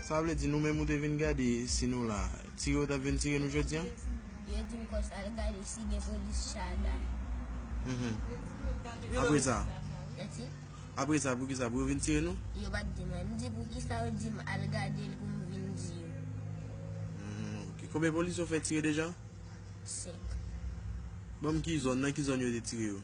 Sa vle di nou menm ou te vin gade si nou la. Tire yo tap vin tire nou jodi an? Yo di m konsa al gade si gen polis Shada. Apre sa? Mèsi? Apre sa poukisa pou yo vin tire nou? Yo pat di mwen. M di poukisa yo di m al gade l pou m vin di yo. Ok. Konbyen polis yo fè tire deja? 5. Banm ki zòn, nan ki zòn yo te tire yo?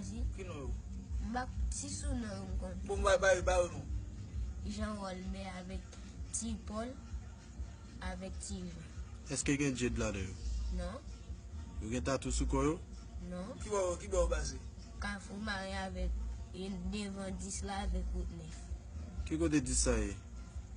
Esi. Ki non yo? Bak ti sou non yo m konn. Bon bay bay bay yo non. Jean Rolbert avèk ti Paul avèk ti Jean. Eske gen Jade ladan yo? Non. Yo gen tatou sou kò yo? Non. Ki bò ki bò yo pase? Kafou mare avèk devan 10 la avèk wout 9. Ki kote 10 sa ye?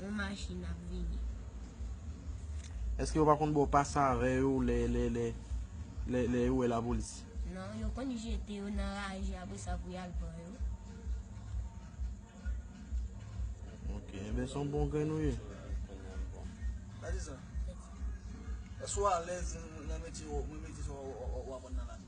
yon machin ap vini. Eske yo pa konn baw pas avè yo lè lè lè lè lè yo wè la polis? Non, yo konn jete yo nan raje apre sa pou yal pran yo. Ok, enben son bon grenn ou ye. Eske ou alèz nan metye ou, nan metye sa ou aprann nan lavi?